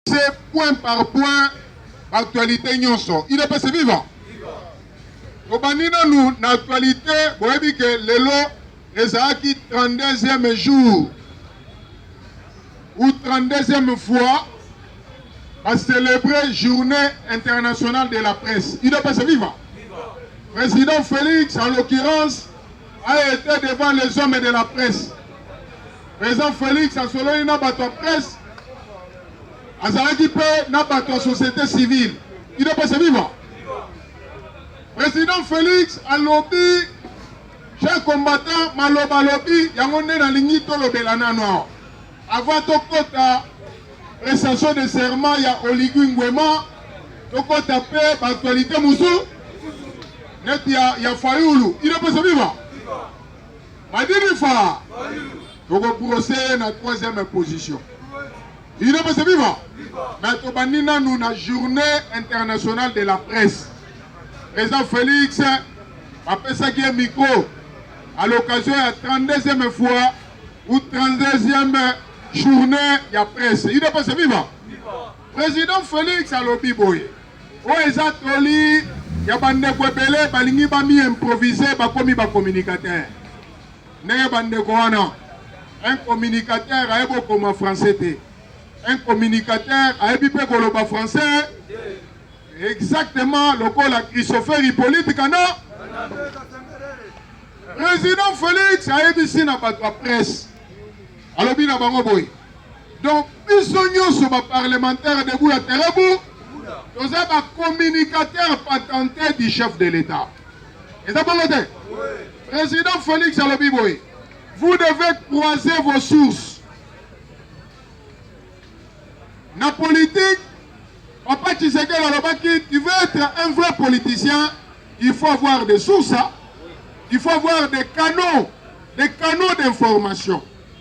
C'est point par point actualité nyonso idps viva tobandi nanu na actualité boyebi ke lelo ezalaki 32e jour ou 32e fois bacelebre journée internationale de la presse idps viva président félix en l'occurrence a été devant les hommes de la presse President Felix asololi na bato ya presse, azalaki mpe na bato ya société civile. Ido pesa viva. President Felix alobi chers combattants maloba alobi yango nde nalingi tolobela nano awa avant tokota prestation de serment ya oligui ngwema tokota mpe baaktualité mosusu neti ya, ya fayulu inapesa viva Madini fa toko brosser ye na troisième position inopesa biva me tobandi nanu na journée internationale de la presse président félix bapesaki ye micro à l'occasion ya 32e fois ou 32e journée ya presse inopesa biva président félix alobi boye Oyo eza toli ya bandeko ebele balingi bami improvise bakomi ba communicateur ndenge bandeko wana un communicateur ayebi okoma français te un communicateur ayebi mpe koloba français exactement lokola christopher hippolyte kana président félix ayebisi na bato ya presse alobi na bango boye Donc biso nyonso ba parlementaires debout ya Terebu toza ba communicateurs patentés du chef de l'État. Eza bongo te? Président Félix alobi boye, vous devez croiser vos sources. Na politique, Papa Tshisekedi alobaki, tu veux être un vrai politicien, il faut avoir des sources, hein? il faut avoir des canaux, des canaux d'information.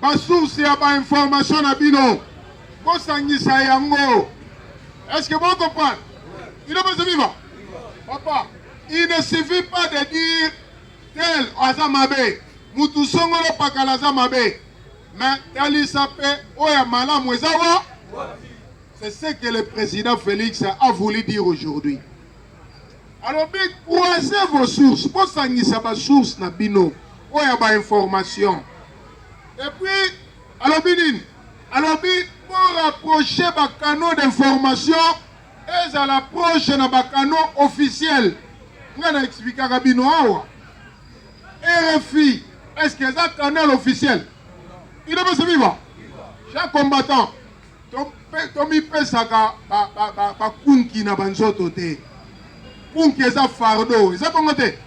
Ba source ya ba information na bino bosangisa yango. Est-ce que vous comprenez? Il est pas vivant. Papa, il ne suffit pas de dire tel aza mabe. Mutu songolo pakala aza mabe. Mais talisa pe oya malamu ezawa. C'est ce que le président Félix a voulu dire aujourd'hui. Alobi croisez vos sources, bosangisa ba sources na bino oyo ya ba informations. Et puis alobi nini? Alobi bo rapprocher ba canaux d'information ezala proche na ba canaux officiels. Nga na explikaka bino awa RFI est-ce que eza canal officiel? Il est viva? Chaque combattant tomipesaka bakunki na banzoto te kunki eza fardo eza bongo te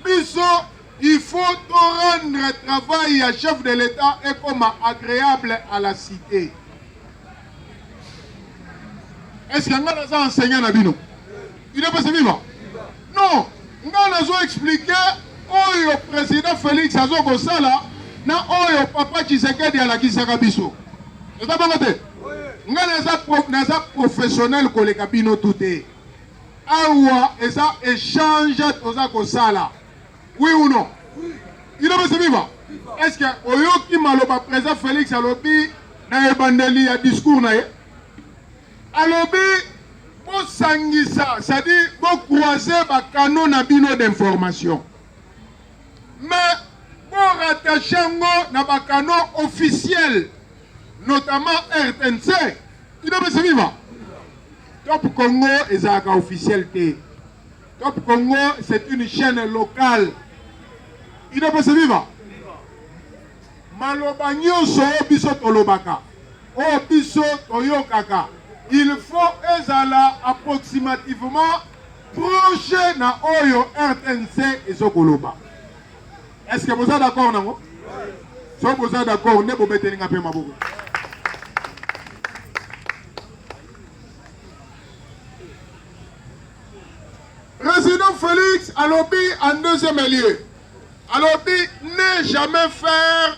biso il faut to rendre travail ya chef de l'état ekoma agréable à la cité est ce que ngai naza enseignant na bino Udps viva non nga nazo explike oyo president Felix azo kosala na oyo papa Tshisekedi alakisaka biso eza bongo te nga naza, naza professionnel koleka bino tu te awa eza échange toza kosala oui ou non udps viva est ce que oyoki maloba president Felix alobi na ebandeli ya discours na ye Alobi bosangisa c'est-à-dire bo croiser ba canaux na bino d'information mais bo rattache yango na ba canaux officiels notamment RTNC bino pesa viva Top Congo ezalaka officiel te Top Congo c'est une chaîne locale bino pesa viva maloba nyonso biso tolobaka Oyo biso toyokaka il faut ezala approximativement proche na oyo rtnc ezo koloba est ce que boza d'accord nango soki boza d'accord nde bobeteli nga mpe maboko président félix alobi en deuxième lieu alobi ne jamais faire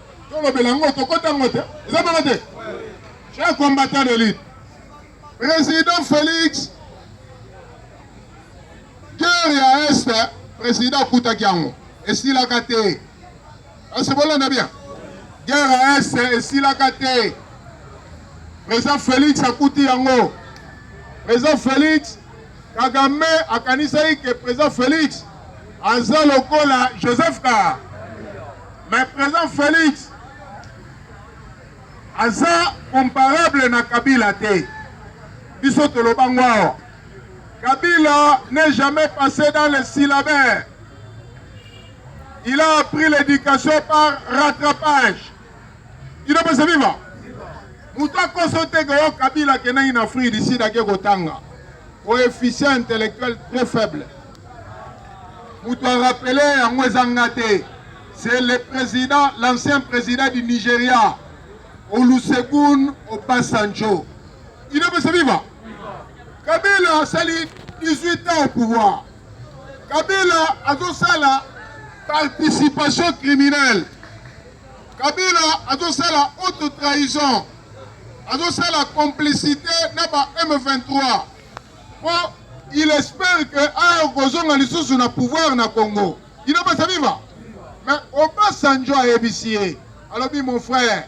tolobela yango tokota yango te eza bongo te cher combattant de lutte président félix guerre ya est président akutaki yango esilaka te kasi bolanda bien guerre ya est esilaka te président félix akuti yango président félix Kagame akanisaki ke president Felix aza lokola Joseph Kara, mais president Felix aza comparable na Kabila te. Biso toloba ngwao. Kabila n'est jamais passé dans le syllabaire. Il a appris l'éducation par rattrapage. Idebese viva! Moto akoso te ke yo Kabila akendaki na Afrique du Sud ake kotanga. Coefficient intellectuel très faible. Moto arapele yango eza nga te. C'est le président, l'ancien président du Nigeria, Olusegun Obasanjo. Idebese viva! Kabila asali 18 ans au pouvoir. Kabila azosala participation criminelle. Kabila azosala haute trahison. Azosala complicité na ba M23. Po il espère que ayo kozonga lisusu na pouvoir na Congo. Ino basa viva. Mais Obasanjo ayebisi ye. Alobi mon frère,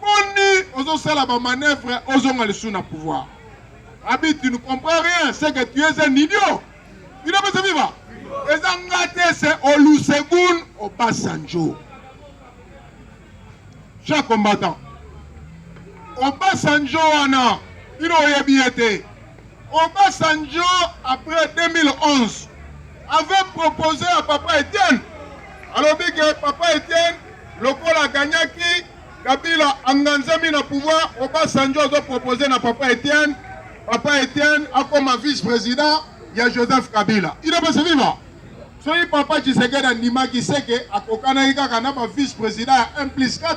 Boni ozosala ba manœuvre ozonga lisusu na pouvoir. Abi tu ne comprends rien, c'est que tu es un idiot. Il a pas viva. Eza ngate c'est Olusegun Obasanjo. Chaque combattant. Obasanjo wana, il oyebi ete. Obasanjo après 2011 avait proposé à papa Etienne alobi ke papa Etienne lokola aganyaki Kabila anganzami na pouvoir Obasanjo azo proposer na papa Etienne papa Etienne akoma vice président ya Joseph Kabila ino basi viva soki papa Tshisekedi andimaki seke akokanaki kaka na ba vice président ya 1 plus 4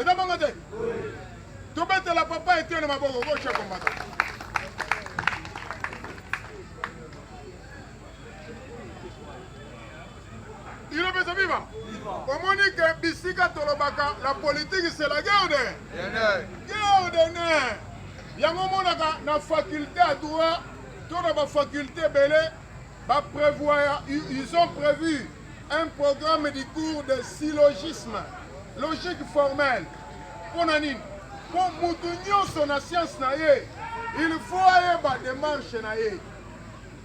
eza bongo te tobetela papa etiene maboko okotia kombata ilobesa viva omoni ke bisika tolobaka la politiki c'est la guerre de guerre de ne yango omonaka na faculte ya droit to na bafaculte ebele baprevoir ils ont prévu Un programme du cours de syllogisme logique formelle mpo na nini mpo motu nyonso na sianse na ye il faut ayeba demarche na ye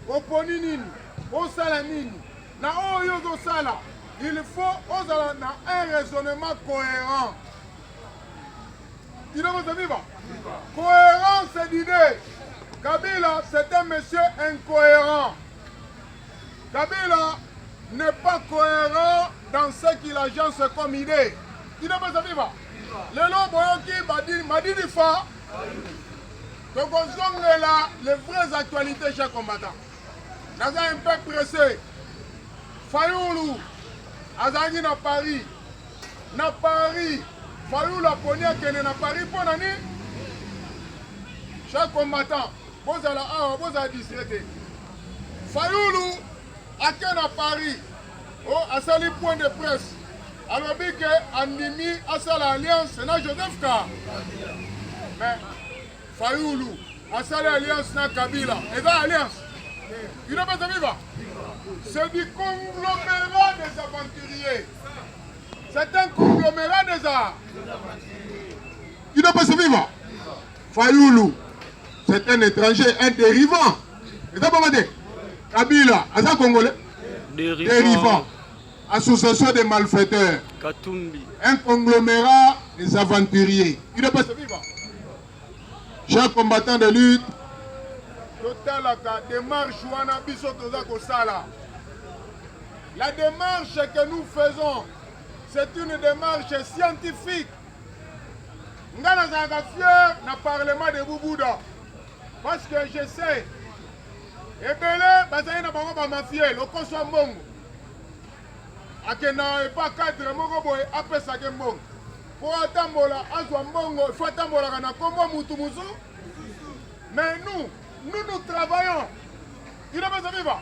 oponi nini osala nini na oyo ozosala il faut ozala na un raisonnement cohérent ilokoza viva cohérence d'idée kabila c'est un monsieur incohérent Kabila n'est pas cohérent dans ce qu'il agence comme idée. Inapasa viva. Lelo boyoki badini madini fa. Donc on zonge là les vraies actualités chez combattant. Naza un peu pressé. Fayoulou azangi na Paris. Na Paris. Fayoulou aponi akende na Paris mpo na nini? Chaque combattant bozala awa bozala distraite Fayulu ake na Paris o oh, asali point de presse alobi ke andimi asala alliance na Joseph Ka mais Fayulu asali alliance na Kabila eza alliance ino pesa viva c'est du conglomérat des aventuriers c'est un conglomérat des arts ino pesa viva Fayulu c'est un étranger un dérivant eza bongo te kabila aza congolais derivan association des malfaiteurs katumbi un conglomérat des aventuriers il doit pas se vivre chers combattants de lutte totalaka démarche wana biso toza kosala la démarche que nous faisons c'est une démarche scientifique ngai nazalaka fier na parlement de bubuda Parce que je sais ebele bazali na bango bamafie lokoso ya mbongo akenda epa cadre moko boye apesake mbongo mpo atambola azwa mbongo ifo atambolaka na nkombo mutu mozu mais nous nous nous travaillons il est besoin vivre